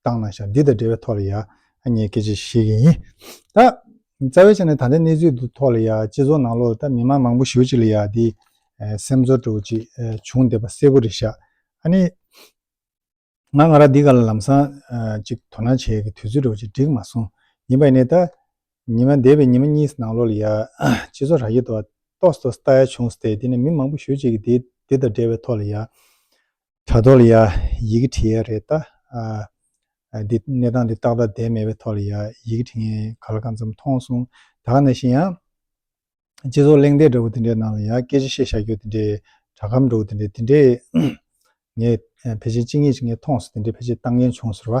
བཏང་ན་ཞག་འདི་དང་འབྲེལ་བའི་ཐོག་ལ་ཡག་ཉེས་སྐད་ཆ་ཞིག་ཡིན། ད་རྩ་བའི་ཆ་ནས་ད་ལྟའི་གནས་ཚུལ་དུ་ཐོག་ལ་ཡག་སྤྱི་ཚོགས་ནང་ལོགས་ལ་ད་མི་མང་མང་པོ་ཞུ་ཅིག་ལ་ཡག་འདི་སེམས་ཚོར་སྤྲོ་བོ་ཅིག་བྱུང་བསྡད་པ་གསལ་པོ་རེད་ཤག་ཨ་ནི། ང་ང་རང་འདི་ག་ལ་ལམ་སང་ཅིག་དོ་སྣང་བྱེད་ཀྱི་དུས་ཚོད་སྤྲོ་བོ་ཅིག་འགྲིག་མ་སོང་ཡིན་པ་ནི་ད་ཉི་མ་འདས་པའི་ཉི་མ་གཉིས་ནང་ལོགས་ལ་ཡག་སྤྱི་ཚོགས་ར་ཤི་དོག་སྟོགས་སྟོགས་ལྟ་ཡག་བྱུང་བསྡད་དེ་ནས་མི་མང་པོ་ཞུ་ཅིག་འདི་དང་འབྲེལ་བའི་ཐོག་ལ་ཡག་དྲ་ཐོག་ལ་ཡང་ཡི་གེ་བྲིས་ཡས་རེད་ད། འདི་གནས་སྟངས་འདི་ཏག་ཏག་བསྡད་མེད་པའི་ཐོག་ལ་ཡང་ཡི་གེ་བྲིས་ངས་ག་ལ་གང་འཚམ་མཐོང་སོང། ད་ག་ནས་བཤད་ཡང། སྤྱི་ཚོགས་གླེང་སྟེགས་འདྲ་བོ་དེ་འདྲའི་ནང་ལ་ཡང་སྐད་ཆ་བཤད་བཞག་རྒྱུ་དེ་འདྲའི་དྲ་ཁམས་འདྲ་བོ་དེ་འདྲའི་དེ་འདྲའི་ངས་ཕལ་ཆེར་ཅི་ངེས་ཅི་ངེས་མཐོང་སོང་དེ་འདྲའི་ཕལ་ཆེར་ལྟ་མཁན་བྱུང་ཟེར་བ།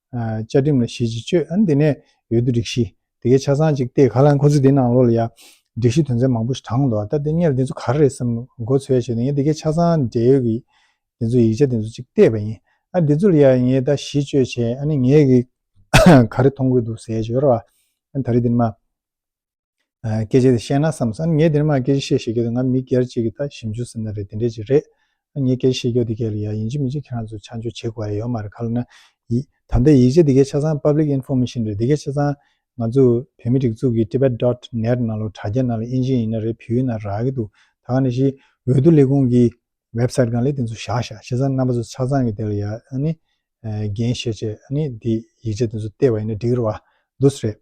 བཅའ་ཁྲིམས་ལ་གཞི་གཅིག་སྤྱོད་ཨང་དེ་ནས་ཡོད་དུ་སྒྲིག་གཞི་དེ་གའི་ཆ་ཚང་གཅིག་སྟེ་ག་ལ་ཁོ་ཚོས་དེའི་ནང་ལོགས་ལ་ཡང་སྒྲིག་གཞི་དོན་ཚན་མང་པོ་ཞིག་དྲངས་འདུག་ཨ་ད་དེ་གཉེར་དེ་ཚོ་ག་རེ་རེད་བསམ་མགོ་ཚོས་ཡ་བྱས་ཏེ་ངས་དེ་གའི་ཆ་ཚང་འབྲེལ་ཡོད་ཀྱི་དེ་ཚོ་ཡིག་ཆ་དེ་ཚོ་གཅིག་བལྟས་པ་ཡིན་ཨ་དེ་ཚོ་ལ་ཡང་ངས་ད་གཞི་གཅོད་བྱས་ཨ་ནི་ངས་གིས་ག་རེ་མཐོང་གི་འདུག་ཟེར་ཞོར་ཨ་ད་རེས་དེ་ནི་མ། སྐད་ཆ་དེ་བཤད་ན་བསམས་སོང་ངས་དེ་རིང་མ་སྐད་ཆ་བཤད་ཤེས་ཀྱི་འདུག་ང་མི་སྒེར་ཅིག་གི་ད་ཞིབ་འཇུག་ཟེར་ན་རེད་དེ་འདྲས་ཅིག་རེད། ངས་སྐད་ཆ་བཤད་རྒྱུ་དེ་ག་ལ་ཡག་ཡིན་གཅིག་མིན་གཅིག་ཁྱེད་རང་ཚོས་ཆ་འཇོག་བྱེད་དགོས་ཡ་ཡོད་མ་རེད་ག་ལ་ན། ད་ལྟ་ཡིག་ཆ་དེ་གའི་ཆ་ཚང Public Information རེད་དེ་གའི་ཆ་ཚང་ང་ཚོ་བོད་མི་སྒྲིག་འཛུགས་ཀྱི Tibet Dot Net ནང་ལོ་དྲ་རྒྱ་ནང་ལ་ཨིན་ཇི་ཡིན་ན་རེད་བེའུ་ཡིན་ན་རག་གི་འདུག་ད་ག་ནས་ཤི་འོས་བསྡུ་ལས་ཁུངས་ཀྱི Website གང་ལས་དེ་ཚོ་བཞག་བཞག་བྱས་ཙང་རྣམ་པ་ཚོ་ཆ་ཚང་གི་དེ་ལ་ཡག་ནི་རྒན་བཤད་བྱས་ནི་དེ་ཡིག་ཆ་དེ་ཚོ་བལྟས་བ་ཡིན་ན་འགྲིག་ར་བ་འདུག་རེད།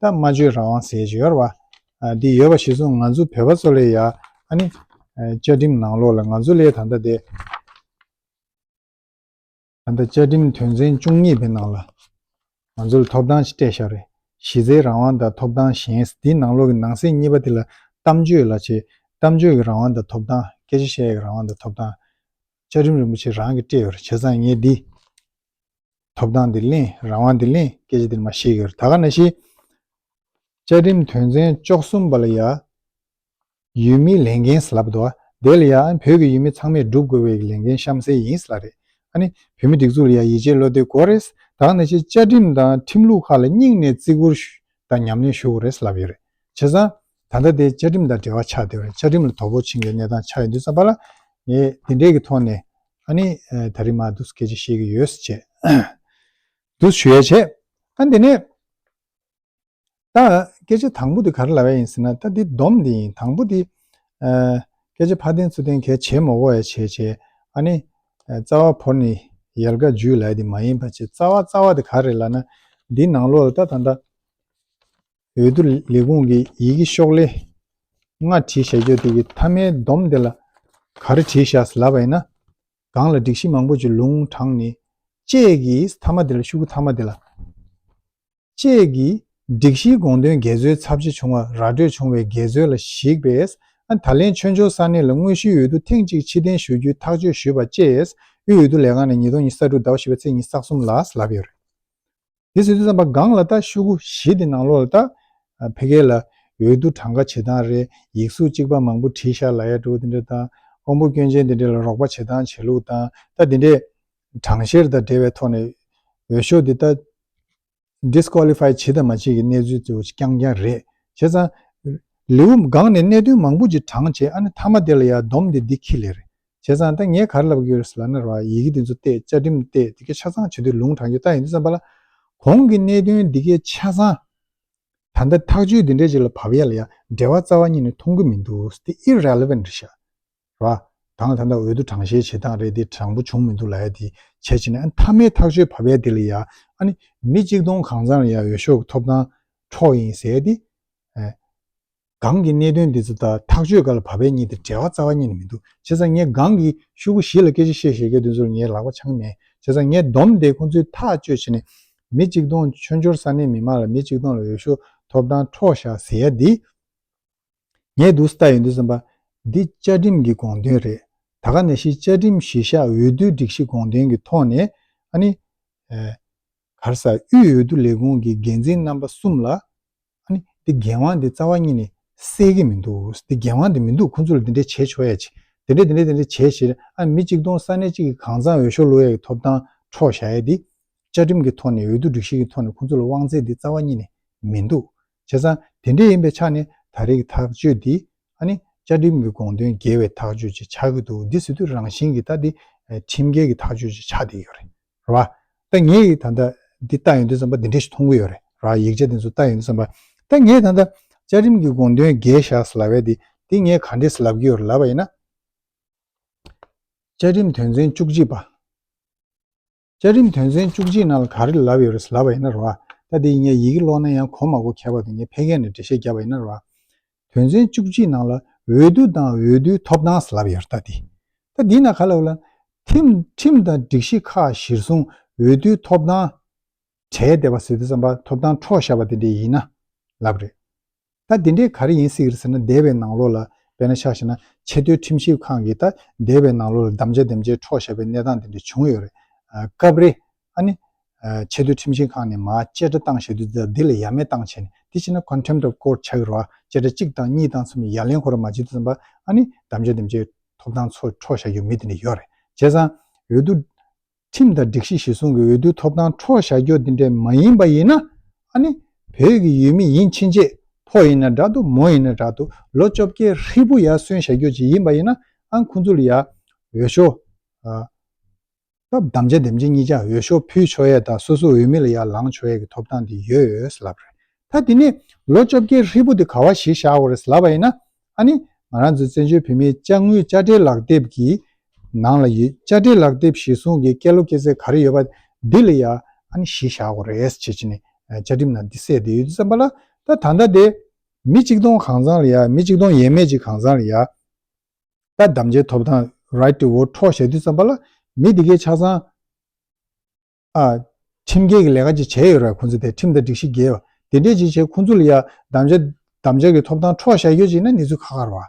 ད་སྨྲ་བརྗོད་རང་དབང་ཟེར་གྱི་ཡོད་རེད་བ། འདི་ཡོད་པ་གཞི་བཟུང་ང་ཚོ་བོད་པ་ཚོ་ལས་ཡ་ཨ་ནི། བཅའ་ཁྲིམས་ནང་ལོགས་ལ་ང་ཚོ་ལས་ད་ལྟ་དེ། ད་ལྟ་བཅའ་ཁྲིམས་དོན་ཚན་བཅུ་གཉིས་པའི་ནང་ལ། ང་ཚོ་ལ་ཐོབ་ཐང་ཅི་སྤྲད་ཤག་རེད་གཞི་རྩའི་རང་དབང་དང་ཐོབ་ཐང་གཞན་འདི་ནང་ལོགས་ཀྱི་ནང་གསེས་གཉིས་པ་དེ་ལ་གཏམ་བརྗོད་ལ་བྱེད་གཏམ་བརྗོད་ཀྱི་རང་དབང་དང་ཐོབ་ཐང་སྐད་ཆ་བཤད་ཡག་གི་རང་དབང་དང་ཐོབ་ཐང། བཅའ་ཁྲིམས་རིན་པོ་ཆེ་རང་གིས་སྤྲད་ཡོད་རེད་བྱས་ཙང་ངས་འདི། ཐོབ་ཐང་དེ་གླེང་རང་དབང་དེ་གླེང་སྐད་ཆ་དེ་མ་བཤད་གི་རེད་ད་ག་ན་ཤེས། བཅའ་ཁྲིམས་དོན་ཚན་བཅོ་གསུམ་པ་ལ་ཡ། ཡུལ་མིའི་ལས་འགན་ཟེར་ལབ་འདུག་དེ་ལ་ཡ་བོད་ཀྱི་ཡུལ་མི་ཚང་མས་སྒྲུབ་དགོས་པའི་ལས་འགན་གཤམ་གསལ་ཡིན་ཟེར་ལ་རེད་ཨ་ནི་བོད་མི་སྒྲིག་འཛུགས་ལ་ཡ་ཡིད་ཆེས་བློ་གཏོད་དགོས་རེད་ད་ག་ན་ཤེས་བཅའ་ཁྲིམས་དང་ཁྲིམས་ལུགས་ཁག་ལ་སྙིང་ནས་བརྩི་བཀུར་དང་ཉམས་ལེན་ཞུ་དགོས་རེད་ལབ་ཡོད་རེད་བྱས་ཙང། ད་ལྟ་དེ་བཅའ་ཁྲིམས་དང་འབྲེལ་བ་ཆགས་བསྡད་པ་རེད་བཅའ་ཁྲིམས་ལ་དོ་ཕོག་ཕྱིན་པའི་གནས་སྟངས་ཆགས་ཡོད་འདུག་བསམ་པ་ལ། ངས་དེ་འབྲེལ་གྱི་ཐོག་ནས་ཨ་ནི་ད་རིང་མ་གདུགས་སྐད་ཆ་བཤད་ཀྱི་ཡོད་ཟེར་བྱས། གདུགས་ཞུ་ཡས་བྱས། ཨ་དེ་ནས། ད་སྐད་ཆ་དང་པོ་དེ་ག་རེ་ལ་བས་ཡིན་ཟེར་ན་ད་དེ་སྡོམ་དེ་ཡིན་དང་པོ་དེ། སྐད་ཆ་ཕ་བསྟན་ཚུལ་བསྟན་གལ་ཆེ་མོ་བོ་ཡས་བྱས་བྱས་ཨ་ནི། རྩ་བ་བོར་ནས་ཡལ་ག་འཇུས་ལ་ཡས་དེ་མ་ཡིན་པ་བྱས་རྩ་བ་རྩ་བ་དེ་ག་རེ་ལ་ན། འདི་ནང་ལོགས་ལ་ད་ད་ད། འོས་བསྡུ་ལས་ཁུངས་ཀྱི་ཡི་གེ་ཤོག་ལྷེ་སྔ་བྲིས་ཞལ་བརྗོད་དེ་ཡི་མཐའ་མའི་བསྡོམས་དེ་ལ་ག་རེ་བྲིས་བཞག་ལབ་པ་ཡིན་ན། སྒང་ལ་སྒྲིག་གཞི་མང་པོ་ཅིག་ལུང་དྲངས་ནས། བཅས་ཀྱི་མཐའ་མ་དེ་ལ་ཤུ་གུ་མཐའ་མ་དེ་ལ། བཅས་ཀྱི་སྒྲིག་གཞིའི་དགོངས་དོན་འགལ་འཛོལ་ཚབས་ཆེ་བྱུང་བ་ར་སྤྲོད་བྱུང་བའི་འགལ་འཛོལ་ལ་གཞིགས་པས། ད་ལན་ཆོས་འབྱོར་ས་གནས་ལ་དངོས་གཞིའི་འོས་བསྡུ་ཐེངས་གཅིག་ཕྱི་གཏན་ཞུ་རྒྱུའི་ཐག་གཅོད་ཞུས་པ་བཅས་དབུས་འོས་བསྡུ་ལས་ཁང་ནས་ཉིས་སྟོང་ཉི་ས་དྲུག་ཟླ་བ་བཞི་པ་ཚེས་ཉིན་སག་གསུམ་ལ་ལབ་ཡོད་རེད། དེ་ཚོས་དེ་ཙམ་པ་སྒང་ལ་ད་ཤུ་གུ་བཞི་དེ་ནང་ལོག་ལ་ད་ཕེ་གེ་ལ་འོས་བསྡུ་གྲངས་ཀ་བྱེད་སྟངས་རེད་ཡིག་གཟུགས་གཅིག་པ་མང་པོ་བྲིས་ཤག་ལ་ཡ་དྲུག་དེ་འདྲ་དང་ཀོང་པོ་སྐྱོན་ཅན་དེ་འདྲ་ལ་རོགས་པ་བྱེད་སྟངས་བྱེད་ལུགས་དང་ད་དེ་འདྲས་གྲངས་བཤེར་དང་འབྲེལ་བའི་ཐོག་ནས་འོས་ཤོག་དེ་ད Disqualify བྱེད་དང་མ་བྱེད་ཀྱི་གནས་ཚུལ་དེ་འོ་རྐྱང་རྐྱང་རེད་བྱས་ཙང་ལེའུ་སྒང་ནས་གནད་དོན་མང་པོ་ཅིག་བགྲང་བྱས་ཨ་ནི་མཐའ་མ་དེ་ལ་ཡ་བསྡོམས་དེ་འདི་ཁི་ལེ་རེད་བྱས་ཙང་ད་ངས་གར་ལབ་གི་ཡོད་རེད་ཟེར་ལབ་ན་རོགས་ཨ་ཡིག་གི་འདི་ཚོ་བལྟས་བཅའ་ཁྲིམས་བལྟས་འདི་གས་ཆ་ཚང་བྱེད་དུས་ལུང་དྲངས་རྒྱུ་ལྟ་ཡིན་དུས་བསམ་པ་ལ། གོང་གི་གནད་དོན་འདི་གས་ཆ་ཚང། ད་ལྟ་ཐག་གཅོད་འདི་འདྲས་ཅིག་ལ་བབ་ཡ་ལ་ཡ་འབྲེལ་བ་རྩ་བ་ཉིད་ནས་མཐོང་གི་མི་འདུག་དེ irrelevant རེད་ཤག་རོགས་ཨ། ད་ང་ད་ལྟ་འོས་བསྡུ་དྲང་བཤེར་བྱེད་སྟངས་རེད་དེ་དྲང་པོ་བྱུང་མི་འདུག་ལ་ཡ་དེ་བྱས་བྱས་ན་ཨ་མཐའ་མའི་ཐག་གཅོད་བབ་ཡ་དེ་ལ་ཡ་ཨ་ནི་མི་གཅིག་སྟོང་གང་ཚང་ལ་ཡ་འོས་ཤོག་གི་ཐོབ་ཐང་འཕྲོག་ཡིན་ཟེར་ཡ་དེ། སྒང་གི་གནད་དོན་འདི་ཚོ་དག་ཐག་གཅོད་ག་ལ་བབ་པའི་གཉིས་དེ་བྲལ་བ་རྩ་བ་གཉིས་ནས་མི་འདུག་བྱས་ཙང་ངས་སྒང་གི་ཤུག་གུ་བཞི་ལ་སྐད་ཆ་བཤད་བཤད་རྒྱ་དེ་ཚོར་ངའི་ལག་པ་འཆང་མེད་བྱས་ཙང་ངས་བསྡོམས་དེ་ཁོང་ཚོའི་ཐག་གཅོད་བྱེད་ནས་མི་གཅིག་སྟོང་མཆོད་འཇོར་ས་གནས་མི་མང་ལ་མི་གཅིག་སྟོང་ལ་འོས་ཤོག་ཐོབ་ཐང་འཕྲོག་བཞག་ཟེར་ཡ་འདི། ངས་དུག་ལྟ་ཡོང་དུས་བསམ་པ། འདི་བཅའ་ཁྲིམས་ཀྱི་དགོངས་དོན་རེད་ད་ག་ནས་ཤི་བཅའ་ཁྲིམས་གཞི་བཞག་འོས་བསྡུའི་སྒྲིག་གཞི་དགོངས་དོན་གྱི་ཐོག་ནས་ཨ་ནི། གར་ས་དབུས་འོས་བསྡུ་ལས་ཁུངས་ཀྱི་འགན་འཛིན་རྣམ་པ་གསུམ་ལ། ཨཱ་ནི་འདི་རྒྱལ་དབང་འདི་རྩ་བ་གཉིས་ནས་གསལ་གྱི་མི་འདུག་འདི་རྒྱལ་དབང་འདི་མི་འདུག་ཁོ་ཚོ་ལ་འདི་འདྲས་བྱས་ཆོག་ཡ་བྱས་དེ་འདྲས་དེ་འདྲས་དེ་འདྲས་བྱས་ཞེས་ཨཱ་ནི་མི་གཅིག་སྟོང་ས་གནས་གཅིག་གི་གང་ཟག་འོས་ཤོག་ལོ་ཡ་གི་ཐོབ་ཐང་འཕྲོག་བཞག་ཡ་འདི། བཅའ་ཁྲིམས་ཀྱི་ཐོག་ནས་འོས་བསྡུ་སྒྲིག་གཞི་གི་ཐོག་ནས་ཁོ་ཚོ་ལ་དབང་ཚད་འདི་རྩ་བ་གཉིས་ནས་མི་འདུག་བྱས་ཙང་དེ་འདྲས་ཡིན་པའི་ཆ་ནས་ད་རེས་ཀྱི་ཐག་གཅོད་འདི་ཨཱ་ནི་བཅའ་ཁྲིམས་ཀྱི་དགོངས་དོན་འགལ་བའི་ཐག་གཅོད་ཅིག་ཆགས་ཀྱི་འདུག་འདི་སྲིད་དུ་རང་བཞིན་གྱི་ད་འདི་ཁྲིམས་འགལ་གྱི་ཐག་གཅོད་ཅིག་ཆགས་བསྡད་ཡོད་རེད། རེད་བ། ད་ངས་ཡིག་ད་ལྟ་འདི་བལྟ་ཡོང་དུས་བསམ་པ་འདི་འདྲ་ཞིག་མཐོང་གི་ཡོད་རེད་བ། ཡིག་ཆ་འདི་ཚོ་བལྟ་ཡོང་དུས་བསམ་པ། ད་ངས་ད་ལྟ་བཅའ་ཁྲིམས་ཀྱི་དགོངས་དོན་བརྒྱད་བཞག་ཟེར་ལབ་བས་དེ་འདི་ངས་ག་འདྲས་སུ་ལབ་ཀྱི་ཡོད་རེད་ལབ་པ་ཡིན་ན། བཅའ་ཁྲིམས་དོན་ཚན་བཅུ་གཅིག་པ། བཅའ་ཁྲིམས་དོན་ཚན་བཅུ་གཅིག་ནང་ལ་ག་རེ་ལབ་ཡོད་རེད་ཟེར་ལབ་པ་ཡིན་ན་རེད་བ། ད་དེ་ཡིན་ངས་ཡི་གེ་ཀློག་ན་ཡང་གོ་མ་གོ་ཁྱད་པར་དུ་ངས་ཕལ་སྐད་ནས་འགྲེལ་བཤད་རྒྱབ་པ་ཡིན་ན་རེད་བ། དོན་ཚན་བཅུ་གཅིག་ནང་ལ་འོས་བསྡུ་དང་འོས་བསྡུའི་ཐོབ་ཐང་ཟེར་ལབ་ཡོད་རྟ་དེ། ད་འདི་ན་ག་ལ་འོས་ལ། ཁྲིམས་དང་སྒྲིག་གཞི་ཁག་གཞིར་བཟུང་འོས་བསྡུའི་ཐོབ་ཐང་བྲལ་བསྡད་པ་ཟེར་དུས་བསམ་པ་ཐོབ་ཐང་འཕྲོག་བཞག་པ་དེ་འདྲས་ཡིན་ན་ལབ་རེད། ད་དེ་འདྲས་ག་རེ་ཡིན་སྲིད་ཟེར་ན་འདས་པའི་ནང་ལོག་ལ་བལ་ན་ཆགས་ཤེ་ན་ཆེ་མཐོའི་ཁྲིམས་ཞིབ་ཁང་གིས་ད་འདས་པའི་ནང་ལོག་ལ་བདམས་བྱ་འདེམས་བྱས་འཕྲོག་བཞག་པའི་གནས་སྟངས་དེ་འདྲས་བྱུང་ཡོད་རེད། སྐབས་རེ་ཨ་ནི། ཆེས་མཐོའི་ཁྲིམས་ཞིབ་ཁང་ནས་མ་བཅད་ཁྲ་བཏང་ཞེས་དུས་འདི་ལ་ཡ་མེད་བཏང་བྱས་ནས་དེ་བྱས་ན Contempt of Court བྱ་གི་རོགས་ཨ་བཅད་ཁྲ་གཅིག་བཏང་གཉིས་བཏང་གསུམ་ཡ་ལན་ཁོ་ར་མ་བྱེད་དུས་བསམ་པ་ཨ་ནི་གདམ་བྱའི་འདེམས་བྱའི་ཐོབ་ཐང་ཚོ་འཕྲོག་བཞག་རྒྱུ་མི་དེ་འདྲ་ཡོད་རེད་བྱས་ཙང་འོས་བསྡུ། ཁྲིམས་དང་སྒྲིག་གཞི་གཞི་བཟུང་གི་འོས་བསྡུའི་ཐོབ་ཐང་འཕྲོག་བཞག་རྒྱུ་དེ་འདྲ་མ་ཡིན་པ་ཡིན་ན་ཨ་ནི་བོད་ཀྱི་ཡུལ་མི་ཡིན་ཕྱིན་ཆད་ཕོ་ཡིན་ན་འདྲ་འདུག་མོ་ཡིན་ན་འདྲ་འདུག་ལོ་བཅོ་བརྒྱད་ཧྲིལ་པོ་ཡར་སོན་བཞག་རྒྱུ་ཅིག་ཡིན་པ་ཡིན་ན་ཨ་ཁོང་ཚོ་ལ་ཡར་འོས་ཤོག། སྐབས་དམ་བཅའ་འདེམས་ཀྱི་གཉིས་ཀྱང་འོས་ཤོག་ཕུལ་ཆོག་ཡས་དང་སོ་སོའི་འོས་མི་ལ་ཡར་ལངས་ཆོག་ཡས་ཀྱི་ཐོབ་ཐང་དེ་ཡོད་ལབ་རེད་ད་དེ་ནས་ལོ་བཅོ་བརྒྱད་ཧྲིལ་པོ་དེ་ག་བ་ཞིག་བཞག་འོ་རེད་ལབ་པ་ཡིན་ན་ཨ་ནི་ང་རང་ཚོའི་བཙན་བྱོལ་བོད་མིའི་དཔྱ་དངུལ་དཔྱ་ཁྲལ་ལག་དེབ་ཀྱི་ནང་ལ་ཡོད་དཔྱ་ཁྲལ་ལག་དེབ་གཞིར་བཟུང་གི་སྐལ་ལོ་སྐལ་ཚད་ག་རེ་ཡོད་པ་དེ་ལ་ཡར་ཨ་ནི་གཞིས་བཞག་འོ་རེད་ཅེས་བྱས་ནས་བཅའ་ཁྲིམས་ནང་དེ་གསལ་བསྡད་ཡོད་དུས་བསམ་པ་ལ་ད་ད་ལྟ་དེ་མི་གཅིག་སྟོང་གང་ཚང་ལ་ཡར་མི་གཅིག་སྟོང་ཡས་མས་ཀྱི་གང་ཚང་ལ་ཡར། ལྟ་བདམ་བྱའི་ཐོབ་ཐང Right to Vote འཕྲོག་བཞག་དུས་བརྩམས་པ་ལ་མི་དེ་གའི་ཆ་ཚང་ཨ། ཁྲིམས་འགལ་གྱི་ལས་ཀ་ཅིག་བྱས་ཡོད་རེད་ཁོང་ཚོ་དེ་ཁྲིམས་དང་སྒྲིག་གཞི་འགལ་བ་དེ་འདྲས་ཅིག་བྱས་ཁོང་ཚོ་ལ་ཡ་བདམ་བྱ་བདམ་བྱ་གྱི་ཐོབ་ཐང་འཕྲོག་བཞག་ཡོད་ཅིག་ན་གནས་ཚུལ་ཁ་ཁར་བ་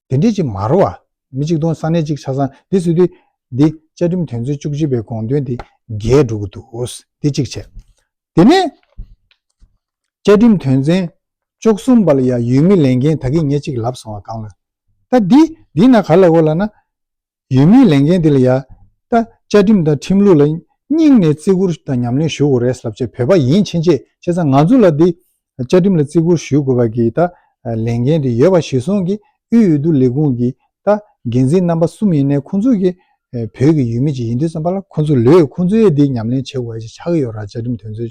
དེ་འདྲས་ཅིག་མ་རོ་བ་མི་གཅིག་སྟོང་ས་གནས་གཅིག་ཆ་ཚང་འདི་བཟོས་དུས་འདི་བཅའ་ཁྲིམས་དོན་ཚན་བཅུ་གཅིག་པའི་དགོངས་དོན་དེ་འགལ་འགྲོ་གི་འདུག་དེ་གཅིག་བྱས་དེ་ནས། བཅའ་ཁྲིམས་དོན་ཚན་བཅུ་གསུམ་པ་ལ་ཡང་ཡུལ་མི་ལས་འགན་ད་གིན་ཉེ་གཅིག་ལབ་སོང་བ་གང་ལ། ད་འདི་འདི་ན་ག་ལ་གོ་ལ་ན། ཡུལ་མིའི་ལས་འགན་འདི་ལ་ཡང་ད་བཅའ་ཁྲིམས་དང་ཁྲིམས་ལུགས་ལ་སྙིང་ནས་བརྩི་བཀུར་དང་ཉམས་ལེན་ཞུ་དགོས་རེད་ཟབ་ཆོས་བོད་པ་ཡིན་ཕྱིན་ཆད་བྱས་ཙང་ང་ཚོ་ལ་འདི་བཅའ་ཁྲིམས་ལ་བརྩི་བཀུར་ཞུ་དགོས་པ་གིས་ད་ལས་འགན་དེ་ཡོད་པ་གཞི་བཟུང་གིས་དབུས་འོས་བསྡུ་ལས་ཁུངས་ཀྱི་ད་འགན་འཛིན་རྣམ་པ་གསུམ་ཡིན་ནའི་ཁོང་ཚོ་གིས་བོད་ཀྱི་ཡུལ་མི་ཅིག་ཡིན་དུས་ཙམ་པ་ལ་ཁོང་ཚོ་ལོས་ཁོང་ཚོའི་འདི་ཉམས་ལེན་བྱེད་དགོས་པ་ཞིག་ཆགས་ཀྱི་ཡོད་ར་བཅའ་ཁྲིམས་དོན་ཚན་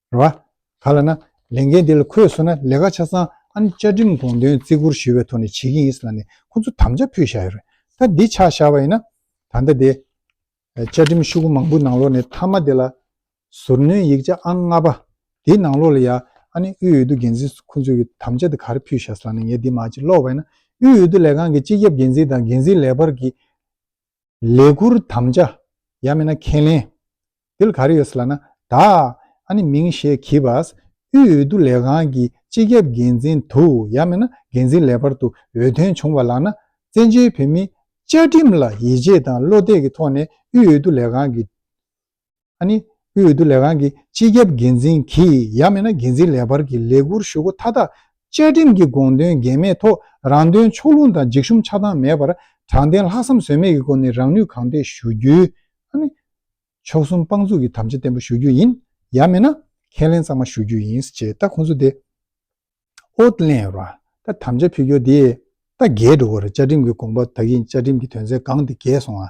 རེད་བ། ག་ལ་ན། ལས་འགན་འདི་ལ་ཁོས་མཚོན་ན་ལས་ཀ་ཆ་ཚང་ཨ་ནེ་བཅའ་ཁྲིམས་དགོངས་དོན་བརྩི་བཀུར་ཞུས་བའི་ཐོག་ནས་བྱེད་ཀྱིན་ཡིན་ས་ལ་ནས་ཁོ་ཚོ་དམ་བཅའ་ཕུལ་བཞག་ཡོད་རེད་ད་འདི་ཆགས་བཞག་པ་ཡིན་ན། ད་ལྟ་དེ། བཅའ་ཁྲིམས་ཤུགས་མང་པོའི་ནང་ལོགས་ནས་མཐའ་མ་དེ་ལ། ཟུར་སྣོན་ཡིག་ཆ་ཨང་ལྔ་པ། དེའི་ནང་ལོགས་ལ་ཡང་ཨ་ནེ་དབུས་འོས་བསྡུ་འགན་འཛིན་ཁོ་ཚོས་ཀྱི་དམ་བཅའ་དེ་ག་རེ་ཕུལ་བཞག་ས་ལ་ནས་ངས་འདི་མ་ཅིག་ཀློག་པ་ཡིན་ན། དབུས་འོས་བསྡུ་ལས་ཁང་གི་སྤྱི་ཁྱབ་འགན་འཛིན་དང་འགན་འཛིན་ལས་འབར་གྱིས། ལས་ཁུར་དམ་བཅའ། ཡང་མིན་ན་ཁས་ལེན། འདི་ལ་ག་རེ་ཡོད་སྲིད་ལགས་ན། ད་ཨ་ནི་མིང་ཞེས་གྱིས་པ། དབུས་འོས་བསྡུ་ལས་ཁང་གི་སྤྱི་ཁྱབ་འགན་འཛིན་དུ་ཡང་མིན་ན་འགན་འཛིན་ལས་འཕར་དུ་འོས་ཐོན་བྱུང་བ་ལགས་ན་བཙན་བྱོལ་བོད་མིའི་བཅའ་ཁྲིམས་ལ་ཡིད་ཆེས་དང་བློ་གཏད་ཀྱི་ཐོག་ནས་དབུས་འོས་བསྡུ་ལས་ཁང་གི་ཨ་ནི། དབུས་འོས་བསྡུ་ལས་ཁང་གི་སྤྱི་ཁྱབ་འགན་འཛིན་གྱིས་ཡང་མེད་ན་འགན་འཛིན་ལས་འཕར་གྱི་ལས་འཁུར་ཞུ་སྒོ་མཐའ་དག་བཅའ་ཁྲིམས་ཀྱི་དགོངས་དོན་འགལ་མེད་ཐོག་རང་དོན་ཕྱོགས་ལྷུང་དང་འཇིགས་ཞུམ་ཆགས་སྡང་མེད་པར་དྲང་བདེན་ལྷག་བསམ་ཟོལ་མེད་ཀྱི་སྒོ་ནས་རང་ནུས་གང་འདོད་ཞུ་རྒྱུའི། ཨ་ནི། མཆོག་གསུམ་དཔང་འཛུགས་ཀྱི་དམ་བཅའ་བརྟན་པོ་ཞུ་རྒྱུ་ཡིན། ཡང་མེད་ན། ཁས་ལེན་གཙང་མ་ཞུ་རྒྱུ་ཡིན། ཅེས་ད་ཁོང་ཚོ་དེ། ཨོ། གླེང་ཡོད་པ། ད་དམ་བཅའ་ཕུལ་སྐྱོར་དེ། ད་འགལ་འགྲོ་གི་རེད་བཅའ་ཁྲིམས་ཀྱི་དགོངས་པ་དག་གིས་བཅའ་ཁྲིམས་ཀྱི་དོན་ཚན་གང་དེ་འགལ་སོང་ཨ།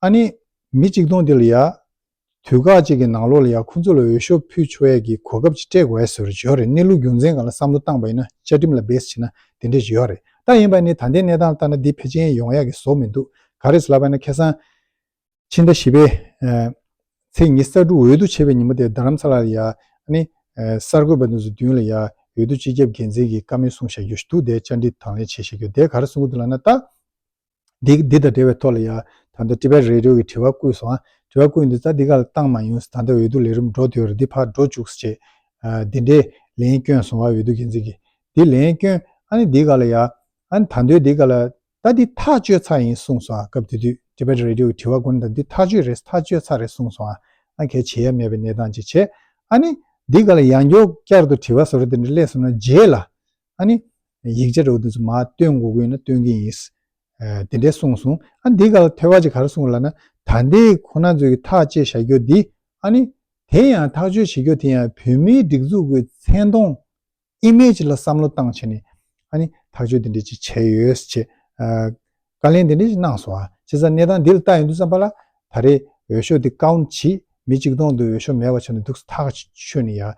ཨ་ནི། མི་གཅིག་སྟོང་འདི་ལ་ཡ། དུས་ཁག་ཅིག་གི་ནང་ལོགས་ལ་ཡང་ཁོ་ཚོ་ལ་འོས་ཤོག་ཕུལ་ཆོག་ཡས་ཀྱི་གོ་སྐབས་ཅིག་སྤྲད་དགོས་ཡས་ཟེར་བ་རེད་གནས་ལུགས་རྒྱུ་མཚན་གང་ལ་བསམ་བློ་བཏང་བ་ཡིན་ན་བཅའ་ཁྲིམས་ལ་བེད་ཕྱིན་ན་དེ་འདྲས་ཡོད་རེད་ད་ཡིན་པ་ནི་ད་ལྟའི་གནས་སྟངས་ལྟར་ན་འདི་ཕལ་ཆེན་ཡོང་ཡག་གི་བཟོ་མི་འདུག་ག་རེས་ལབ་པ་ན་ཁེ་སང། ཕྱི་ཟླ་བཞི་པའི། ཚེས་ཉི་གསར་འགྲུག་འོས་བསྡུ་བྱེད་པའི་ཉིན་མོ་དེར་རྡ་རམ་ས་ལ་ལ་ཡ། ཨ་ནི། གསར་འགོད་པ་འདི་ཚོ་མདུན་ལ་ཡ། འོས་བསྡུ་སྤྱི་ཁྱབ་འགན་འཛིན་གྱིས་བཀའ་མོལ་གསུང་བཞག་རྒྱུ་ཞིག་འདུག་དེ་བཅར་འདྲི་དང་ལེན་བྱེད་བཞག་རྒྱུ་དེ་ག་རེ་གསུང་གི་འདུག་ལབ་ན་ད། འདི་དང་འབྲེལ་བའི་ཐོག་ལ་ཡང་ད་ལྟ Tibet Radio གི་དྲི་བ་བརྐུས་སོང་ཨ། དྲི་བ་བརྐུས་འདི་རྩ་འདི་ག་ལ་བཏང་མ་ཡོང་ཟེར་ད་ལྟ་འོས་བསྡུ་ལས་རིམ་འགྲོ་འདོད་རེད་འདི་ཕར་འགྲོ་བཅུག་ཟེར་བྱས། འདི་འདྲའི་ལན་བསྐྱོན་སོང་བ་འོས་བསྡུ་འགན་འཛིན་གྱིས། འདི་ལན་བསྐྱོན་ཨ་ནི་འདི་ག་ལ་ཡ། ཨ་ནི་ད་འདོད་འདི་ག་ལ། ད་འདི་ཐག་གཅོད་ཚར་ཡིན་གསུངས་སོང་ཨ་སྐབས་དེ་དུས Tibet Radio གི་དྲི་བ་བརྐུ་ན་ད་འདི་ཐག་གཅོད་རེད་ཐག་གཅོད་ཚར་རེད་གསུངས་སོང་ཨ། ཨ་གལ་ཆེ་ཡ་མེད་པའི་གནས་སྟངས་ཅིག་བྱས། ཨ་ནི། འདི་ག་ལ་ཡང་མགྱོགས་བསྐྱར་དུ་དྲི་བ་བཟོ་རེ་དེ་འདྲ་སླེབས་སོང་ན་རྗེས་ལ། ཨ་ནི། ཡིག་ཆ་རོ་འདི་ཚོ་མ་སྟོན་དགོས་དགོས་ན་སྟོན་གྱི་ཡིན། དེ་འདྲས་གསུངས་སོང། ཨ་འདི་ག་ལ་ཐོས་བ་ཅིག་གར་གསུངས་ལ་ན་ད་འདི་ཁོ་ན་ཚོས་ཀྱི་ཐག་བཅད་བཞག་རྒྱུ་འདི་ཨ་ནི། དེ་ཡང་ཐག་གཅོད་བྱེད་རྒྱུ་དེ་ཡང་བོད་མིའི་སྒྲིག་འཛུགས་ཀྱི་མཚན་མཐོང། Image། ལ་བསམ་བློ་བཏང་ཆེ་ནས་ཨ་ནི་ཐག་གཅོད་དེ་འདྲས་ཅིག་བྱས་ཡོད་ཅེས་བཀའ་ལན་དེ་འདྲས་ཅིག་གནང་སོང། བྱས་ཙང་གནས་སྟངས་འདི་ལ་ལྟ་ཡོང་དུས་བསམ་པ་ལ་ད་རེས་འོས་ཤོག་འདི་བཀའ་བོ་མཆིས་མི་གཅིག་སྟོང་དུ་འོས་ཤོག་མེད་པ་བྱུང་ནས་འདུག་ཐག་ཆོད་ནས་ཡར་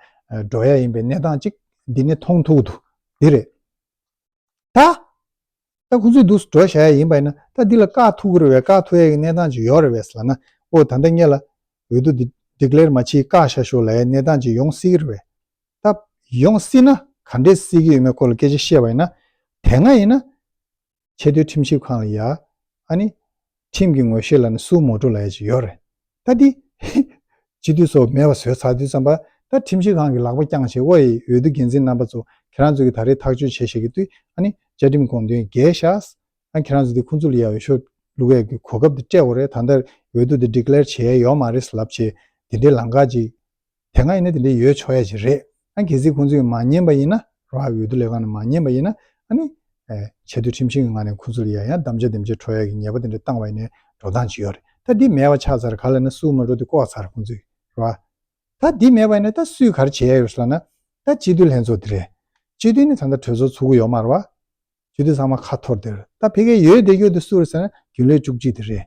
འགྲོ་ཡ་ཡིན་པའི་གནས་སྟངས་ཅིག་འདི་ནས་མཐོང་ཐུག་འདུག་དེ་རེད། ད། ད་ཁོང་ཚོས་འདུག་འགྲོ་བཞག་ཡ་ཡིན་པ་ཡིན་ན་ད་འདི་ལ་དཀའ་ཐུག་གི་རེད་བས་དཀའ་ཐུག་ཡ་ཡི་གནས་སྟངས་ཅིག་ཡོག་རེད་བས་ལ་ན་ཨོ་ད་ད་ངེད་ལ་འོས་བསྡུ་འདི Declare མ་ཕྱིས་དཀའ་བཞག་ཞོག་ལ་ཡའི་གནས་སྟངས་ཅིག་ཡོང་སྲིད་གི་རེད་བས་ད། ཡོང་སྲིད་ན་ག་འདྲས་སྲིད་གི་ཡོད་མེད་སྐོར་ལ་སྐད་ཆ་བཤད་པ་ཡིན་ན་དེ་སྔ་ཡིན་ན། ཆེས་མཐོའི་ཁྲིམས་ཞིབ་ཁང་ལ་ཡ། ཨཱ་ནི། ཁྲིམས་ཀྱི་ངོ་ཤེས་ལ་ནི་སུའུ་མོ་ཀྲུ་ལ་ཡ་ཅིག་ཡོད་རེད། ད་འདི། སྤྱི་འཐུས་ཚོ་མེད་པ་བཟོས་ཚར་དུས་ཙམ་པ། ད་ཁྲིམས་ཞིབ་ཁང་གི་ལག་པ་བརྐྱངས་ཞེས་དབའ་ཡི་འོས་བསྡུ་འགན་འཛིན་རྣམ་པ་ཚོ་ཁྱེད་རང་ཚོ་གིས་ད་རེས་ཐག་གཅོད་བྱེད་ཤེས་ཀྱི་དུས་ཨཱ་ནི། བཅའ་ཁྲིམས་དགོངས་དོན་རྒྱས་ཤ་ཨཱ། ཁྱེད་རང་ཚོ་འདི་ཁུང་ཙུ་ལི་ཡ་འོས་ཤོག་ལུ་གས་གི་གོ་སྐབས་འདི་སྤྲད་འོ་རེད་ད་ལྟ་འོས་བསྡུ་འདི Declare བྱས་ཡོག་མ་རེད་ལབ་བྱས་འདི་འདྲའི་ལང་ཀ་ཅིག་དེ་སྔ་ཡིན་ན་དེ་འདྲའི་ཡོད་ཆོག་ཡ་ཞིག་རེད་ཨ་གལ་སྲིད་ཁོང་ཚོས་མ་ཉན་པ་ཡིན་ན་རོ་ཧ་འོས་བསྡུ་ལས་ཁང་ནས་མ་ཉན་པ་ཡིན་ན་ཨ་ནི། ཆེས་མཐོའི་ཁྲིམས་ཞིང་གི་ངང་ནས་ཁོང་ཚོ་ལ་ཡ་ཡང་གདམ་བྱ་འདེམས་བྱེད་འཕྲོ་ཡ་གི་ཉེས་པ་དེ་འདྲ་བཏང་བ་ཡིན་ནའི་འགྲོ་སྟངས་ཅི་ཡོད་རེད་ད་འདི་མེད་བ་ཆགས་ཚར་ག་ལ་ན་སུའུ་མ་འགྲོ་དེ་ལྐོག་ཚར་ཁོང་ཚོས་རོ་ཨ། ད་འདི་མེད་བ་ཡིན་ན་ད་སུས་ག་རེ་བྱེད་ཡ་ཡོད་སོ་ལ་ན་ད་སྤྱི་འཐུས་ལྷན་ཚོགས་འདི་རེད་སྤྱི་འཐུས་ནི་ད་ལྟ་གྲོས་ཚོགས་ཚུགས་གི་ཡོད་མ་རོ་ཨ། སྤྱི་འཐུས་ཚང་མ་ཁ་འཐོར་འདིར་ད་བྷེ་ཁའི་ཡོད་དེ་ཡོད་དེ་སུ་རེད་ཟེར་ན་རྒྱུན་ལས་བཅུ་གཅིག་དེ་རེད།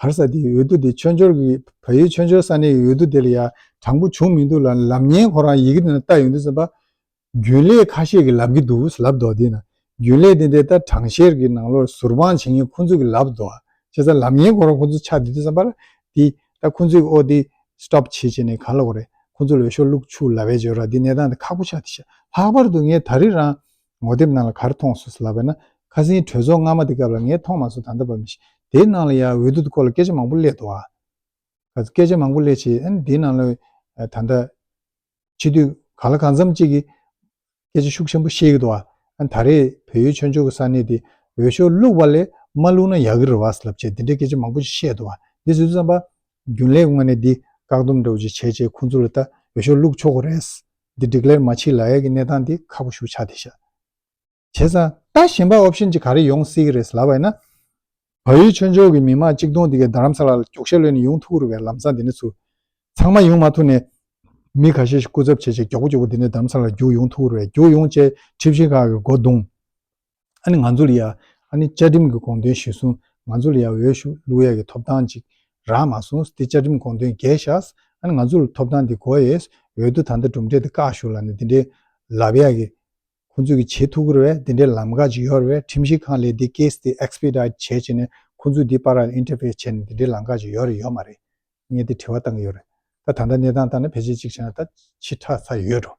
གར་ས་དེའི་འོས་བསྡུ་དེ་མཆོད་འཇོར་གྱི་བལ་ཡུལ་མཆོད་འཇོར་ས་གནས་ཀྱི་འོས་བསྡུ་དེ་ལ་ཡང་དྲང་པོ་བྱུང་མི་འདུག་ལ་ལམ་བརྙན་ཁོ་རང་ཡི་གེ་དེ་ན་བཏགས་ཡོང་དུས་སེམས་པ། རྒྱུན་ལས་ཁ་ཤས་ཀྱིས་ལབ་ཀྱི་འདུག་ཟེར་ལབ་དོགས་དེས་ན་རྒྱུན་ལས་དེ་འདི་ལྟར་དྲང་བཤེར་གྱི་ནང་ལོར་ཟུར་དཔང་བྱེད་མཁན་ཁོ་ཚོས་ཀྱིས་ལབ་དོགས་བྱས་ཙང་ལམ་བརྙན་ཁོ་རང་ཁོ་ཚོ་ཆགས་བསྡད་དུས་སེམས་པ། འདི་ལྟར་ཁོ་ཚོས་ཀྱིས་ཨོ་དེ Stop བྱེད་བྱས་ནས་ག་ལ་འོ་རེད་ཁོ་ཚོ་ལ་འོས་ཤོག་བླུགས་ཆུག་ལབ་བས་བྱོས་ར་འདི་གནས་སྟངས་འདི་ཁག་པོ་ཆགས་འདི་ཤག་ལྷག་པར་དུ་ངས་ད་རེས་རང་ངོ་དེབ་ནང་ལ་གར་མཐོང་སོ་ཟེར་ལབ་པས་ན་ཁ་སིང་གྲོས་ཚོགས་སྔ་མ་དེ་སྐབས་ལ་ངས་མཐོང་མ་སོང་ད་ལྟ་བབས་མི་ཤེས། དེའི་ནང་ལ་ཡང་འོས་བསྡུ་སྐོར་ལ་སྐད་ཆ་མང་པོ་གླེད་འདུག་ཨ། ག་ཚོད་སྐད་ཆ་མང་པོ་གླེད་ཆེད་ཨ་ནི་དེའི་ནང་ལ་ད་ལྟ་ཕྱི་དུས་གང་ལ་གང་འཚམས་ཅིག་གིས་སྐད་ཆ་ཤུགས་ཆེན་པོ་བཤད་ཀྱི་འདུག་ཨ། ཨ་ནི་ད་རེས་བོད་ཡུལ་ཆོས་ཕྱོགས་ཀྱི་ས་གནས་དེ་འོས་ཤོག་བླུགས་པ་ལས་མ་བླུགས་ན་ཡག་གི་རེད་བ་ཟེར་ལབ་ཆེད་འདི་འདྲའི་སྐད་ཆ་མང་པོ་ཞིག་བཤད་འདུག་ཨ། འདི་ཟེར་དུས་བསམ་པ། རྒྱུན་ལས་དངོས་གནས་འདི་བཀག་སྡོམ་འགྲོ་བྱེད་བྱས་རྗེས་ཁོང་ཚོ་ལ་ད་ཡོད་ཤོག་ལུག་ཆོག་གོ་རེད། འདི་འགྲིག་ལེར་མ་མཆིས་ལ་ཡག་གི་གནས་སྟངས་འདི་ཁག་པོ་ཞུ་ཆགས་དེ་ཤ་བྱེད་ས། ད་གཞན་པ option གཅིག་ག་རེ་ཡོང་སྲིད་གི་རེད་ལབ་པ་ཡིན་ན། བལ་ཡུལ་ཆོས་འབྱོར་གྱི་མི་མང་གཅིག་སྟོང་འདི་གའི་རྡ་རམ་ས་ལ་ལ་གྱོགས་ཤ་ལོན་ནས་ཡོང་ཐུག་རུ་བའི་ལམ་སང་འདི་ནས་ཚུར། ཚང་མ་ཡོང་མ་ཐུག་ནས། མི་ག་ཤེད་ཤིག་སྐུ་ཚབ་བྱས་རྗེས་མགྱོགས་པོ་མགྱོགས་པོ་འདི་ནས་རྡ་རམ་ས་ལ་ལ་རྒྱུགས་ཡོང་ཐུག་རུ་བའི་རྒྱུགས་ཡོང་བཅས་ཁྲིབས་ཤིང་ཁ་གི་སྒོ་བརྡུངས། ཨ་ནི་ང་ཚོ་ལ་ཡ། ཨ་ནི་བཅའ་ཁྲིམས་ཀྱི་དགོངས་དོན་གཞིར་བཟུང་ང་ཚོ་ལ་ཡ་འོས་ཤོག་བླུག་ཡ་གི་ཐོབ་ཐང་ཅིག་རག་མ་སོང་ཟི་དེ་བཅའ་ཁྲིམས་དགོངས་དོན་འགལ་ཤགས་ཨ་ནི་ང་ཚོ་ལ་ཐོབ་ཐང་འདི་གོ་ཡས་འོས་བསྡུ་ད་ལྟ་གྲུབ་འབྲས་འདི་བཀག་ཞུགས་ལ་ནི་འདི་འདྲའི་ལབ་ཡ་གི། ཁོ་ཚོས་གི་བྱེད་ཐུག་གི་ར་བས་འདི་འདྲའི་ལམ་འགག་ཅིག་ཡོད་ར་བས་ཁྲིམས་ཞིབ་ཁང་ལས་འདི case འདི expedite བྱས་བྱས་ནས་ཁོ་ཚོས་འདི་པར་ར་ལ interface བྱས་ནས་འདི་འདྲའི་ལམ་འགག་ཅིག་ཡོད་ར་ཡོད་མ་རེད་ངས་འདི་དྲི་བ་བཏང་གི་ཡོད་རེད་ད་ད་ལྟ་གནས་སྟངས་ལྟར་ན་ཕལ་ཆེར་ཅིག་བྱས་ན་ད་ཕྱི་ཁྲག་ཚ་ཡོད་འགྲོ།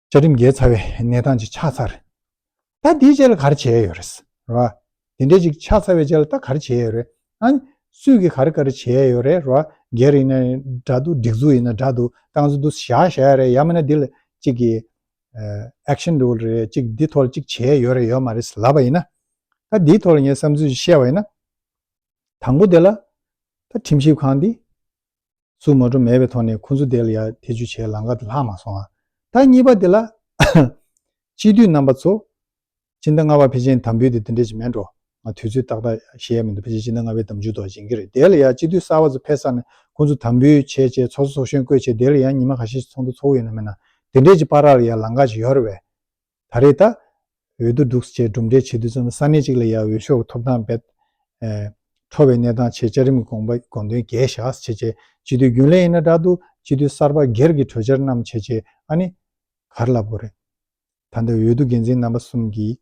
བཅའ་ཁྲིམས་འགལ་ཚར་བའི་གནས་སྟངས་ཅིག་ཆགས་ཚར་རེད། ད་དེའི་རྗེས་ལ་ག་རེ་བྱས་ཡོད་རེད། རེད་བ། དེ་འདྲས་ཅིག་ཆགས་ཚར་བའི་རྗེས་ལ་ད་ག་རེ་བྱས་ཡོད་རེད། ཨང། སུས་ཀྱིས་ག་རེ་ག་རེ་བྱས་ཡོད་རེད། རེད་བ། སྒེར་ཡིན་ན་འདྲ་འདུག་སྒྲིག་འཛུགས་ཡིན་ན་འདྲ་འདུག་ཏང་ཙུའུ་དུ་བཞག་བཞག་ཡོད་རེད་ཡང་མིན་ན་འདི་ལ་གཅིག་གི། Action Rule། རེད་གཅིག་འདི་ཐོག་ལ་གཅིག་བྱས་ཡོད་རེད་ཡོད་མ་རེད་ལབ་པ་ཡིན་ན། ད་འདིའི་ཐོག་ལ་ངས་བསམ་ཚུལ་ཞིག་བཤད་པ་ཡིན་ན། དང་པོ་དེ་ལ། ད་ཁྲིམས་ཞིབ་ཁང་འདི། སུ་ངོ་འཕྲོ་མེད་པའི་ཐོག་ནས་ཁོ་ཚོ་དེ་ལ་ཡར་ཐེ་ཇུས་བྱེད་ལམ་ཀ་དེ་ལྷག་མ་སོང་ཨ། ད་གཉིས་པ་དེ་ལ། སྤྱི་འཐུས་རྣམ་པ་ཚོ། སྤྱི་ཟླ་ལྔ་བར་ཕེ་ཆེན་དམ་འབུལ་དེ་དེ་འདྲས་ཀྱི་མེད་འགྲོ། ང་དུས་ཚོད་ཏག་ཏག་ཤེས་ཡ་མི་འདུག་ཕེ་ཆེན་སྤྱི་ཟླ་ལྔ་བའི་དམ་འཇུག་ཐོག་སྦྱིན་གྱི་རེད་དེ་ལ་ཡར་སྤྱི་འཐུས་གསར་བ་ཚོ་ཕེབས་ས་ནས་ཁོ་ཚོ་དམ་འབུལ་བྱས་བྱས་ཚོགས་གཙོ་ཚོགས་གཞོན་བསྐོས་བྱས་དེ་ལ་ཡར་ཉི་མ་ག་ཤེད་ཀྱི་ཚོགས་འདུ་ཚོགས་ཡོད་ན་མེད་ན་དེ་འདྲས་ཀྱི་པར་ར་ལ་ཡར་ལམ་ཀ་ཅིག་ཡོད་རེད་བས། ད་རེས་ད་འོད་དུ་འབྲུག་བཅས་གྲུབ་འབྲས་ཆེ་དུས་ཙམ་ལ་ས་གནས་གཅིག་ལ་ཡར་འོས་ཤོག་ཐོབ་སྟངས་རྦད་འཕྲོ་བའི་གནས་སྟངས་ཆེད་བཅའ་རིམ་དགོངས་པ་དགོངས་དོན་རྒྱས་བཞག་བྱེད་ཆེད་སྤྱི་འཐུས་རྒྱུན་ལས་ཡིན་ན་དྲག་ཏུ་སྤྱི་འཐུས་གསར་པ་སྒེར་གྱི་གྲོས་འཆར་རྣམས་བྱེད་ཆེད་ཨ་ནི་གར་ལབ་དགོས་རེད། ད་ལྟ་འོས་བསྡུ་འགན་འཛིན་རྣམ་པ་གསུམ་གྱིས་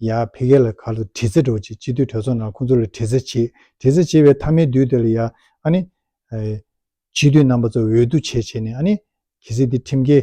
ཡར་འཕེལ་རྒྱས་ལ་གར་དུ་དྲི་རྩད་འགྲོ་ཆེད་སྤྱི་འཐུས་གྲོས་ཚོགས་ནང་ཁོང་ཚོ་ལ་དྲི་རྩད་བྱེད་དྲི་རྩད་བྱེད་པའི་མཐའ་མའི་དུས་དེ་ལ་ཡར་ཨ་ནི་སྤྱི་འཐུས་རྣམ་པ་ཚོ་འོས་བསྡུ་བྱེད་ཆེད་ནས་ཨ་ནི་གལ་སྲིད་དེ་ཁྲིམས་འགལ་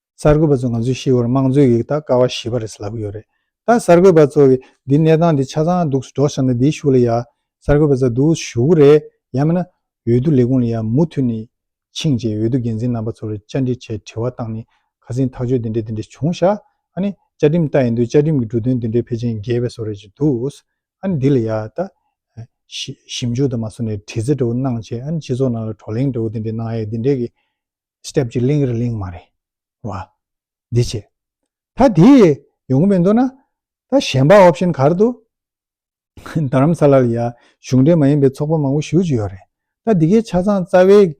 གསར་འགོད་པ་ཚོ་ང་ཚོའི་ཤེས་བར་དམངས་གཙོའི་ཡིག་རྟགས་ཀ་བ་ཞི་བ་རེད་ལབ་ཀྱི་ཡོད་རེད་ད། གསར་འགོད་པ་ཚོ་གིས་འདིའི་གནས་སྟངས་འདི་ཆ་ཚང་འདུག་སྒྲོག་བཞག་ན་འདིའི་ཤུགས་ལ་ཡག་གསར་འགོད་པ་ཚོ་འདུག་ཞུགས་རེད་ཡང་མིན་ན་འོས་བསྡུ་ལས་ཁུངས་ལ་ཡང་མུ་མཐུད་ནས་ཕྱིན་རྗེས་འོས་བསྡུ་འགན་འཛིན་རྣམ་པ་ཚོར་བཅར་འདྲི་བྱས་དྲི་བ་བཏང་ནས་ཁ་སེང་ཐག་གཅོད་འདི་འདྲ་འདི་འདྲ་བྱུང་ཤག་ཨ་ནི་བཅའ་ཁྲིམས་ལྟར་ཡིན་དུས་བཅའ་ཁྲིམས་ཀྱི་འབྲུ་དོན་འདི་འདྲའི་ཕལ་ཆེན་འགལ་བའི་བཟོ་རེད་ཅེས་འདུག་ཨ་ནི་འདི་ལ་ཡག་ད། ཞིབ་འཇུག་དང་མ་བཟོ་ནས་དྲི་རྩད་འདྲ་བོ་གནང་བྱས་ཨ་ནི་སྤྱི་ཚོགས་ནང་ལ་བགྲོ་གླེང་འདྲ་བོ་འདི་འདྲ་གནང་ཡས་འདི་འདྲས་ཀྱི། སྐྱབས་ཀྱི་གླིང་རི་གླིང་མ་རེད་བ། འདི་བྱས། ད་དེ་ཡོང་གི་མི་འདུག་ན། ད་གཞན་པ་འོབས་ཤིན་གར་འདུག། རྡ་རམ་ས་ལར་ཡ། གཞུང་འབྲེལ་མ་ཡིན་པའི་ཚོགས་པ་མང་པོ་ཞུགས་ཀྱི་ཡོད་རེད། ད་འདི་གའི་ཆ་ཚང་རྩ་བའི།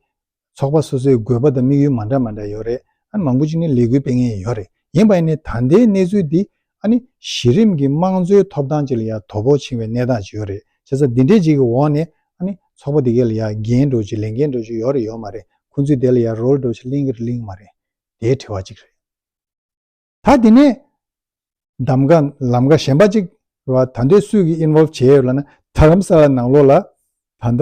ཚོགས་པ་སོ་སོའི་དགོས་པ་དང་དམིགས་ཡུལ་མ་འདྲ་མ་འདྲ་ཡོད་རེད། ཨ་ནི་མང་པོ་ཅིག་ནི་ལས་འགུལ་སྤེལ་མཁན་ཡོད་རེད། ཡིན་པ་ཡིན་ནས་ད་ལྟའི་གནས་ཚུལ་འདི། ཨ་ནི། གཞི་རིམ་གྱི་དམངས་གཙོའི་ཐོབ་ཐང་བཅས་ལ་ཡང་དོ་ཕོག་ཕྱིན་བའི་གནས་སྟངས་ཅིག་ཡོད་རེད་བྱས་ཙང་འདི་འདྲའི་ཅིག་གི་འོག་ནས་ཨ་ནི། ཚོགས་པ་འདི་གའི་ལ་ཡང་འགན་སྒྲུབ་ཅིག་ལས་འགན་སྒྲུབ་ཅིག་ཡོད་རེད་ཡོད་མ་རེད་ཁོང་ཚོས་དེ་ལ་ཡང་རོལ་འགྲོ་ཕྱིར་གླེང་གི་རེད་གླེང་གི་མ་རེད། དེའི་དྲི་བ་ཅིག་རེད། ད་དེ་ནས། གདམ་ག་ལམ་ཀ་གཞན་པ་ཅིག་རེད་བ་ད་འདི་སུས་ཀྱིས involve བྱས་ཡོད་ལ་ན་ད་ལམ་ས་ལ་ནང་ལོགས་ལ། ད་ལྟ།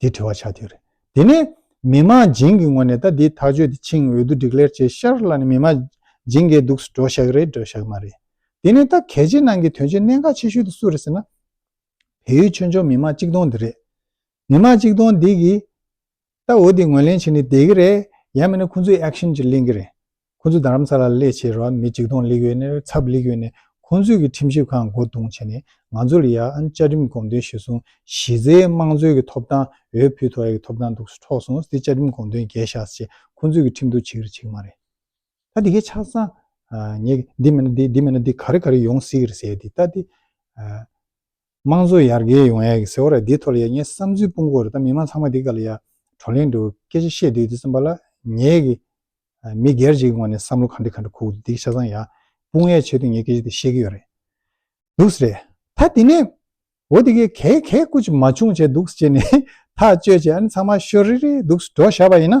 དེ་དྲི་བ་ཆགས་ཐིག་རེད། དེ་ནས་མི་དམངས་སྦྱིན་གྱི་ངོ་ནས་ད་དེའི་ཐག་གཅོད་དེ་ཆིངས་འོས་བསྡུ་སྒྲིག་ལེར་བྱས་ཤར་ལ་ནི་མི་དམངས་སྦྱིན་འགས་སྡུག་སུ་འགྲོ་བཞག་རེད་འགྲོ་བཞག་མ་རེད། དེ་ནས་ད་གལ་ཆེ་ནང་གི་དོན་ཆེ་གནད་འགག་ཆེ་ཤོས་དེ་སུ་རེད་ཟེར་ན། བལ་ཡུལ་ཆོས་འབྱོར་མི་དམངས་གཅིག་སྟོང་འདི་རེད། མི་དམངས་གཅིག་སྟོང་འདི་གིས་ད་འོས་བསྡུ་ངོས་ལེན་བྱས་ནས་བསྡད་གི་རེད་ཡང་མིན་ན་ཁོང་ཚོའི action གྱིས་གླེང་གི་རེད། ཁོ་ཚོས་རྡ་རམ་ས་ལ་ལ་ལས་བྱེད་རོགས་མི་གཅིག་སྟོང་ལེགས་ཡོད་ནེར་ཚབ་ལེགས་ཡོད་ནེ་ཁོ་ཚོས་གི་ཁྲིམས་ཞིབ་ཁང་མགོ་རྡུང་བྱེད་ནེ་ང་ཚོ་ལ་ཡ་ཨན་བཅའ་ཁྲིམས་དགོངས་དོན་ཞུས་སོང་གཞི་རྩའི་དམངས་གཙོའི་གི་ཐོབ་ཐང་འོས་ཕུལ་ཐོ་ཡ་གི་ཐོབ་ཐང་འདུག་སུ་འཕྲོག་སོང་སྟེ་བཅའ་ཁྲིམས་དགོངས་དོན་རྒྱས་བཞག་ཅེས་ཁོ་ཚོས་གི་ཁྲིམས་གཏུག་བྱེད་གི་ཆིག་མ་རེད་ད་དེ་གི་ཆགས་སང་ངས་གི་འདི་མེད་ན་འདི་འདི་མེད་ན་འདི་ག་རེ་ག་རེ་ཡོང་སྲིད་གི་རེད་ཟེར་ཏེ་ད་དེ་དམངས་གཙོ་ཡར་རྒྱས་ཡོང་ཡག་གི་ཟེར་བ་ར་འདི་ཐོར་ཡ་ངའི་བསམ་ཚུལ་སྤུན་གོ་རེད་ད་མི་མང་ཚང་མ་འདི་ག་ལ་ཡ་བགྲོ་གླེང་དུ་སྐད་ཆ་བཤད་དུས་དེ་གསུམ་པ་ལ་ངས་གི་མི་སྒེར་གཅིག་གི་ངོ་ནས་བསམ་བློ་ག་འདྲི་ག་འདྲི་ཁུག་འདི་གི་ཆ་ཚང་ཡ་སྤུན་ཡ་བྱེད་དུས་ངས་སྐད་ཆ་དེ་བཤད་གི་ཡོད་རེད་འདུག་ཟེར། ད་དེ་ནས་འོ་དེ་གས་གས་གས་སྐུ་ཅིག་མ་བྱུང་བྱས་འདུག་ཅེས་ནས་ཐག་གཅོད་བྱས་ཨ་ནི་ཚང་མ་ཤོ་རི་རི་འདུག་འགྲོ་བཞག་པ་ཡིན་ན།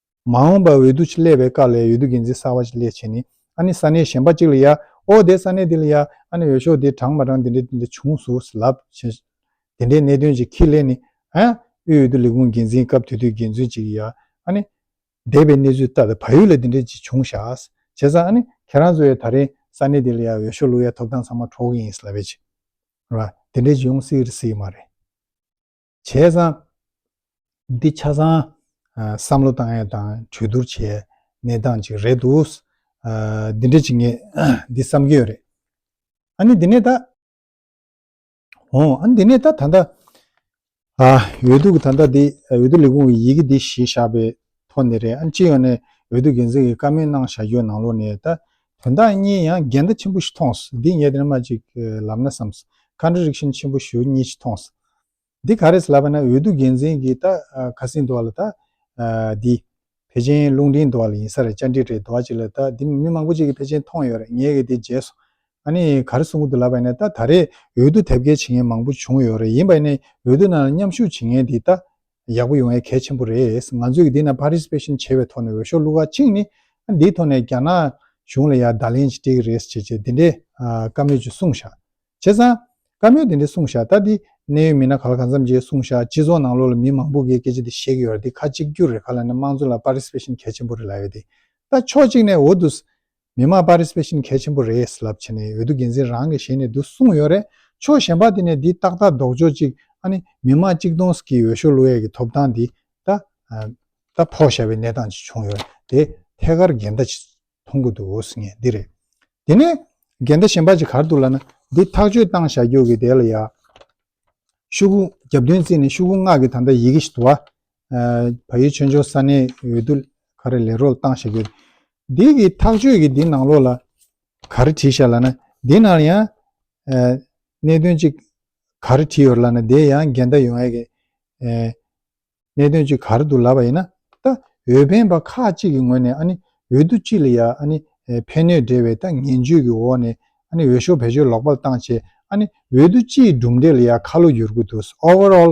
མ་འོངས་པར་འོས་བསྡུ་ཆེད་ལས་པའི་བཀའ་ལས་འོས་བསྡུ་འགན་འཛིན་གསར་བ་ཞིག་ལས་བྱེད་ནི་ཨ་ནི་ས་གནས་གཞན་པ་ཅིག་ལ་ཡ་ཨོ་དེ་ས་གནས་འདི་ལ་ཡ་ཨ་ནི་འོས་ཤོག་དེ་གྲངས་མ་གྲངས་དེ་འདྲས་དེ་འདྲས་བྱུང་སུ་ལབ་བྱས་དེ་འདྲའི་གནད་དོན་ཅིག་གིས་ལས་ནི་ཨ་ཨི་འོས་བསྡུ་ལས་ཁུངས་འགན་འཛིན་སྐབས་དུས་དུས་འགན་འཛོན་ཅིག་གིས་ཡ་ཨ་ནི་འདས་པའི་གནས་ཚུལ་ལྟར་བལ་ཡུལ་ལ་དེ་འདྲས་ཅིག་བྱུང་ཤག་བྱས་ཙང་ཨ་ནི་ཁྱེད་རང་ཚོ་ཡ་ད་རིང་ས་གནས་དེ་ལ་ཡ་འོས་ཤོག་བླུག་ཡ་ཐོབ་ཐང་ཚང་མ་འཕྲོག་གི་ཡིན་ལབ་བྱས་ར་དེ་འདྲས་ཅིག་ཡོང་སྲིད་རེད་སྲིད་མ་རེད། བྱས་ཙང། འདི་ཆ་ཚང་བསམ་བློ་བཏང་ཡས་དང་གྲོས་བསྡུར་བྱས་ཡས་གནས་སྟངས་གཅིག་རེད་འདུག། འདི་འདྲ་གཅིག་ངས་འདི་བསམ་གྱི་ཡོད་རེད། ཨ་ནི་འདི་ནས་ད། ཨོ་ཨ་ནི་འདི་ནས་ད་ད་ལྟ། འོས་བསྡུ་གི་ད་ལྟ་འདི་འོས་བསྡུ་ལས་ཁུངས་ཀྱི་ཡི་གེ་འདི་ཞེས་བཞག་པའི་ཐོག་ནས་རེད་ཨ་སྤྱི་ཡོངས་ནས་འོས་བསྡུ་འགན་འཛིན་གྱི་བཀའ་མོལ་གནང་བཞག་རྒྱུའི་ནང་ལོགས་ནས་ད། དོན་དག་གཉིས་ཡང་འགལ་ཟླ་ཆེན་པོ་ཞིག་མཐོང་སོང་འདི་ངས་དེ་རིང་མ་ཅིག་ལབ་ན་བསམས་སོང Contradiction ཆེན་པོ་ཞུ་གཉིས་ཞིག་མཐོང་སོང། འདི་ག་རེད་ལབ་པ་ན་འོས་བསྡུ་འགན་འཛིན་གྱི་ད་ཁ་སིང་འདུག་བ་ལ་ད། འདི། བེ་ཅན་རླུང་འཕྲིན་འདུག་བ་ལ་ཡིན་ས་རེད་བཅར་འདྲི་རེད་འདུག་བ་ཅིག་ལ་ད་འདི་མི་མང་པོ་ཅིག་གི་བེ་ཅན་མཐོང་ཡོད་རེད་ངས་གི་འདི་བརྗེད་སོང། ཨ་ནི་ག་རེ་གསུང་གི་འདུག་ལབ་པ་ཡིན་ན་ད་ད་རེས་འོས་བསྡུ་དེབ་སྐྱེལ་བྱེད་མཁན་མང་པོ་བྱུང་ཡོད་རེད་ཡིན་པ་ཡིན་ན་འོས་བསྡུ་ནང་ལ་མཉམ་ཞུགས་བྱེད་མཁན་འདི་ད། ཡག་པོ་ཡོང་ཡ་གལ་ཆེན་པོ་རེད་ང་ཚོས་ཀྱི་འདི་ན Participation བྱེད་པའི་ཐོག་ནས་འོས་ཤོག་བླུག་ཁག་གཅིག་ནི་འདིའི་ཐོག་ནས་རྒྱ་ནག་གཞུང་ལ་ཡང་བརྡ་ལན་ཞིག་སྤྲད་ཀྱི་རེད་ཅེས་བྱས་འདི་འདྲའི་བཀའ་མོལ་ཅིག་གསུངས་བཞག་བྱས་ཙང་བཀའ་མོལ་འདི་འདྲ་གསུངས་བཞག་ད་འདི་གནད་ཡོད་མི་སྣ་ག་ལ་ག་འཚམ་བྱས་གསུངས་བཞག་སྤྱི་ཚོགས་ནང་ལོགས་ལ་མི་མང་པོ་གིས་སྐད་ཆ་འདི་བཤད་ཀྱི་ཡོད་ར་འདི་ཁ་གཅིག་གྱུར་རེད་ཁ་ལ་ནི་དམངས་གཙོ་ལ Participation གལ་ཆེན་པོ་རེད་ལ་ཡོད་དེ་ད་ཕྱོགས་གཅིག་ནས་འོ་དུས་མི་དམངས་པར་རིས་པས་ཤིན་གལ་ཆེན་པོ་རེད་ལབ་བྱས་ནས་འོས་བསྡུ་འགན་འཛིན་རང་གི་ཞལ་ནས་བསྡུ་གསུངས་ཡོད་རེད་ཆོག་གཞན་པ་དེ་ནས་འདི་ཏག་ཏག་ལྡོག་ཆོག་ཅིག་ཨ་ནི་མི་དམངས་གཅིག་སྟོང་ཟིག་གིས་འོས་ཤོག་བླུ་ཡས་ཀྱི་ཐོབ་ཐང་འདི་ད་ད་ཕོག་བཞག་པའི་གནས་སྟངས་ཅིག་བྱུང་ཡོད་རེད་དེ་ཐད་ཀར་འགལ་ཟླ་ཅིག་མཐོང་གི་འདུག་འོས་ངེས་འདི་རེད་དེ་ནས་འགལ་ཟླ་གཞན་པ་ཅིག་གར་འདུག་ལབ་ན་འདི་ཐག་གཅོད་བཏང་བཞག་རྒྱུག་གི་དེ་ལ་ཡ་ཤུ་གུ་རྒྱབ་མདུན་བརྩིས་ནས་ཤུ་གུ་སྔགས་ཀྱི་ད་ད་ཡི་གེ་ཞིག་དུ་བ་བ་ཡི་ཆོས་འབྱུང་ས་གནས་འོས་བསྡུ་ག་རེ་ལས་རོལ་བཏང་ཞེས་དགོས། འདི་གི་ཐག་གཅོད་ཀྱི་འདི་ནང་ལོགས་ལ་ག་རེ་བྲིས་ཤག་ལ་ན་འདི་ནང་ལ་ཡང་གནད་དོན་གཅིག་ག་རེ་བྲིས་ཡོད་ལ་ན་དེ་ཡང་འགལ་ཟླ་ཡོང་ཡས་ཀྱི་གནད་དོན་གཅིག་ག་རེ་འདུག་ལབ་པ་ཡིན་ན་ད་འོས་འཕེན་པ་ཁག་གཅིག་གི་ངོས་ནས་ཨ་ནི་འོས་བསྡུ་གཅིག་ལ་ཡང་ཨ་ནི་ཕན་གནོད་འབྲེལ་བའི་ད་ངན་བྱུས་ཀྱི་འོག་ནས་ཨ་ནི་འོས་ཤོག་བེད་སྤྱོད་ལོག་པར་བཏང་ཆེད་ཨ་ནི་འོས་བསྡུ་སྤྱིའི་གྲུབ་འབྲས་ལ་ཡང་ཁ་ལོ་བསྒྱུར་དགོས་འདུག overall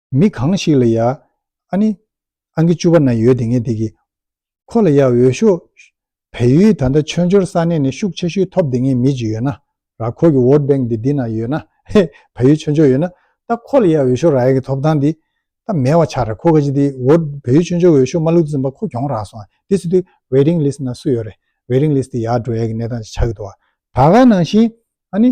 མི་གང་ཞིག་ལ་ཡ། ཨ་ནི། ཨང་ཀི་བཅུ་བ་ན་ཡོད་དེ་ངེས་དེ་གི། ཁོ་ལ་ཡ་འོས་ཤོག། བལ་ཡུལ་ད་ལྟ་ཆོས་འབྱོར་ས་གནས་ནས་ཤུགས་ཆེ་ཤོས་ཐོབ་དེ་ངེས་མི་ཅིག་ཡོད་ན་ར་ཁོ་གི་བོད་བེང་དེ་འདི་ན་ཡོད་ན་ཧེ། བལ་ཡུལ་ཆོས་འབྱོར་ཡོད་ན་ད་ཁོ་ལ་ཡ་འོས་ཤོག་ར་ཡ་གི་ཐོབ་ཐང་དེ་ད་མེད་བ་ཆགས་ར་ཁོ་ག་ཅིག་དེ་བོད་བལ་ཡུལ་ཆོས་འབྱོར་འོས་ཤོག་མ་ལུག་འཛིན་པ་ཁོ་གྱོང་རག་སོང་དེ་སུ་དེ Waiting List ན་སུ་ཡོད་རེད Waiting List དེ་ཡ་འགྲོ་ཡ་གི་གནས་སྟངས་ཅིག་ཆགས་གི་འདུག་བ། ད་ག་ནང་བཞིན་ཨ་ནི།